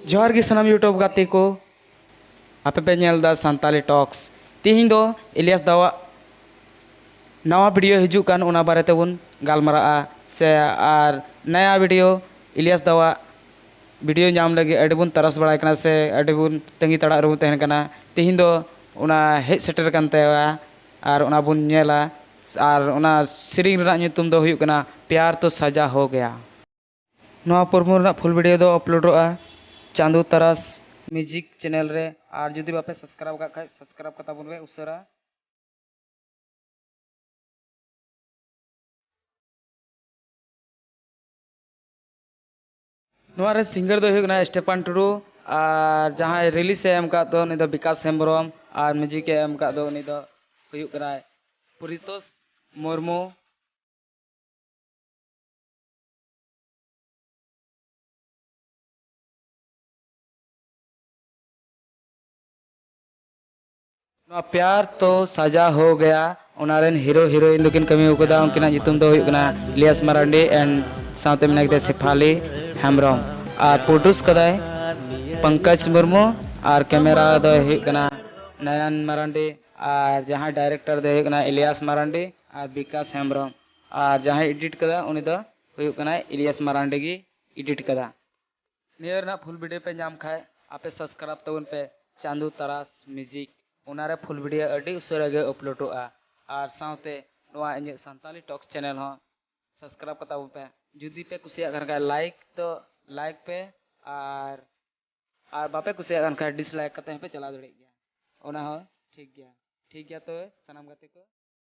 ᱡᱚᱦᱟᱨ ᱜᱮ ᱥᱟᱱᱟᱢ ᱭᱩᱴᱩᱵᱽ ᱜᱟᱛᱮ ᱠᱚ ᱟᱯᱮ ᱯᱮ ᱧᱮᱞ ᱮᱫᱟ ᱥᱟᱱᱛᱟᱞᱤ ᱴᱚᱠᱥ ᱛᱤᱦᱤᱧ ᱫᱚ ᱤᱞᱤᱭᱟᱥ ᱫᱟᱣᱟᱜ ᱱᱟᱣᱟ ᱵᱷᱤᱰᱤᱭᱳ ᱦᱤᱡᱩᱜ ᱠᱟᱱ ᱚᱱᱟ ᱵᱟᱨᱮ ᱛᱮᱵᱚᱱ ᱜᱟᱞᱢᱟᱨᱟᱜᱼᱟ ᱥᱮ ᱟᱨ ᱱᱟᱭᱟ ᱵᱷᱤᱰᱤᱭᱳ ᱤᱞᱤᱭᱟᱥ ᱫᱟᱣᱟᱜ ᱵᱷᱤᱰᱤᱭᱳ ᱧᱟᱢ ᱞᱟᱹᱜᱤᱫ ᱟᱹᱰᱤ ᱵᱚᱱ ᱛᱟᱨᱟᱥ ᱵᱟᱲᱟᱭ ᱠᱟᱱᱟ ᱥᱮ ᱟᱹᱰᱤ ᱵᱚᱱ ᱛᱟᱺᱜᱤ ᱛᱟᱲᱟᱜ ᱨᱮᱵᱚᱱ ᱛᱟᱦᱮᱱ ᱠᱟᱱᱟ ᱛᱤᱦᱤᱧ ᱫᱚ ᱚᱱᱟ ᱦᱮᱡ ᱥᱮᱴᱮᱨ ᱟᱠᱟᱱ ᱛᱟᱭᱟ ᱟᱨ ᱚᱱᱟ ᱵᱚᱱ ᱧᱮᱞᱟ ᱟᱨ ᱚᱱᱟ ᱥᱮᱨᱮᱧ ᱨᱮᱱᱟᱜ ᱧᱩᱛᱩᱢ ᱫᱚ ᱦᱩᱭᱩᱜ ᱠᱟᱱᱟ ᱯᱭᱟᱨ ᱛᱳ ᱥᱟᱡᱟ ᱦᱳ ᱜᱮᱭᱟ ᱱᱚᱣᱟ ᱯᱨᱳᱢᱳ ᱨᱮᱱᱟᱜ ᱯᱷᱩᱞ ᱵᱷᱤᱰᱤᱭᱳ ᱫᱚ ᱟᱯᱞᱳᱰᱚᱜᱼᱟ ᱪᱟᱸᱫᱳ ᱛᱟᱨᱟᱥ ᱢᱤᱭᱩᱡᱤᱠ ᱪᱮᱱᱮᱞ ᱨᱮ ᱟᱨ ᱡᱩᱫᱤ ᱵᱟᱯᱮ ᱥᱟᱵᱥᱠᱨᱟᱭᱤᱵᱽ ᱟᱠᱟᱫ ᱠᱷᱟᱱ ᱥᱟᱵᱥᱠᱨᱟᱭᱤᱵᱽ ᱠᱟᱛᱟ ᱵᱚᱱ ᱯᱮ ᱩᱥᱟᱹᱨᱟ ᱱᱚᱣᱟ ᱨᱮ ᱥᱤᱝᱜᱟᱨ ᱫᱚ ᱦᱩᱭᱩᱜ ᱠᱟᱱᱟ ᱥᱴᱮᱯᱟᱱ ᱴᱩᱰᱩ ᱟᱨ ᱡᱟᱦᱟᱸᱭ ᱨᱤᱞᱤᱥ ᱮ ᱮᱢ ᱟᱠᱟᱫ ᱫᱚ ᱩᱱᱤ ᱫᱚ ᱵᱤᱠᱟᱥ ᱦᱮᱢᱵᱨᱚᱢ ᱟᱨ ᱢᱤᱭᱩᱡᱤᱠ ᱮ ᱮᱢ ᱟᱠᱟᱫ ᱫᱚ ᱩᱱᱤ ᱫᱚ ᱦᱩᱭᱩᱜ ᱠᱟᱱᱟᱭ ᱯᱚᱨᱤᱛᱳᱥ ᱢᱩᱨᱢᱩ ᱱᱚᱣᱟ ᱯᱭᱟᱨ ᱛᱚ ᱥᱟᱡᱟ ᱦᱳ ᱜᱟᱭᱟ ᱚᱱᱟ ᱨᱮᱱ ᱦᱤᱨᱳ ᱦᱤᱨᱳᱭᱤᱱ ᱫᱚᱠᱤᱱ ᱠᱟᱹᱢᱤ ᱟᱠᱟᱫᱟ ᱩᱱᱠᱤᱱᱟᱜ ᱧᱩᱛᱩᱢ ᱫᱚ ᱦᱩᱭᱩᱜ ᱠᱟᱱᱟ ᱤᱞᱤᱭᱟᱥ ᱢᱟᱨᱟᱱᱰᱤ ᱮᱱᱰ ᱥᱟᱶᱛᱮ ᱢᱮᱱᱟᱜ ᱠᱟᱫᱮᱭᱟ ᱥᱮᱯᱷᱟᱞᱤ ᱦᱮᱢᱵᱨᱚᱢ ᱟᱨ ᱯᱨᱚᱰᱩᱥ ᱠᱟᱫᱟᱭ ᱯᱚᱝᱠᱚᱡᱽ ᱢᱩᱨᱢᱩ ᱟᱨ ᱠᱮᱢᱮᱨᱟ ᱫᱚ ᱦᱩᱭᱩᱜ ᱠᱟᱱᱟ ᱱᱟᱭᱟᱱ ᱢᱟᱨᱟᱱᱰᱤ ᱟᱨ ᱡᱟᱦᱟᱸᱭ ᱰᱟᱭᱨᱮᱠᱴᱚᱨ ᱫᱚ ᱦᱩᱭᱩᱜ ᱠᱟᱱᱟ ᱤᱞᱤᱭᱟᱥ ᱢᱟᱨᱟᱱᱰᱤ ᱟᱨ ᱵᱤᱠᱟᱥ ᱦᱮᱢᱵᱨᱚᱢ ᱟᱨ ᱡᱟᱦᱟᱸᱭ ᱮᱰᱤᱴ ᱠᱟᱫᱟ ᱩᱱᱤ ᱫᱚ ᱦᱩᱭᱩᱜ ᱠᱟᱱᱟᱭ ᱤᱞᱤᱭᱟᱥ ᱢᱟᱨᱟᱱᱰᱤ ᱜᱮ ᱮᱰᱤᱴ ᱠᱟᱫᱟ ᱱᱤᱭᱟᱹ ᱨᱮᱱᱟᱜ ᱯᱷᱩᱞ ᱵᱷᱤᱰᱤᱭᱳ ᱯᱮ ᱧᱟᱢ ᱠᱷᱟᱡ ᱟᱯᱮ ᱥᱟᱵᱥᱠᱨᱟᱭᱤᱵ ᱛᱟᱵᱚᱱ ᱯᱮ ᱪᱟᱸᱫᱩ ᱛᱟᱨᱟᱥ ᱢᱤᱭᱩᱡᱤᱠ ᱚᱱᱟ ᱨᱮ ᱯᱷᱩᱞ ᱵᱷᱤᱰᱤᱭᱳ ᱟᱹᱰᱤ ᱩᱥᱟᱹᱨᱟ ᱜᱮ ᱟᱯᱞᱳᱰᱚᱜᱼᱟ ᱟᱨ ᱥᱟᱶᱛᱮ ᱱᱚᱣᱟ ᱤᱧᱟᱹᱜ ᱥᱟᱱᱛᱟᱞᱤ ᱴᱚᱠᱥ ᱪᱮᱱᱮᱞ ᱦᱚᱸ ᱥᱟᱵᱥᱠᱨᱟᱭᱤᱵ ᱠᱟᱛᱟ ᱵᱚᱱ ᱯᱮ ᱡᱩᱫᱤ ᱯᱮ ᱠᱩᱥᱤᱭᱟᱜ ᱠᱟᱱ ᱠᱷᱟᱡ ᱞᱟᱭᱤᱠ ᱫᱚ ᱞᱟᱭᱤᱠ ᱯᱮ ᱟᱨ ᱟᱨ ᱵᱟᱯᱮ ᱠᱩᱥᱤᱭᱟᱜ ᱠᱟᱱ ᱠᱷᱟᱡ ᱰᱤᱥᱞᱟᱭᱤᱠ ᱠᱟᱛᱮ ᱦᱚᱸᱯᱮ ᱪᱟᱞᱟᱣ ᱫᱟᱲᱮᱭᱟᱜ ᱜᱮᱭᱟ ᱚᱱᱟ ᱦᱚᱸ ᱴᱷᱤᱠ ᱜᱮᱭᱟ ᱴᱷᱤᱠ ᱜᱮᱭᱟ ᱛᱚᱵᱮ ᱥᱟᱱᱟᱢ ᱜᱟᱛᱮ ᱠᱚ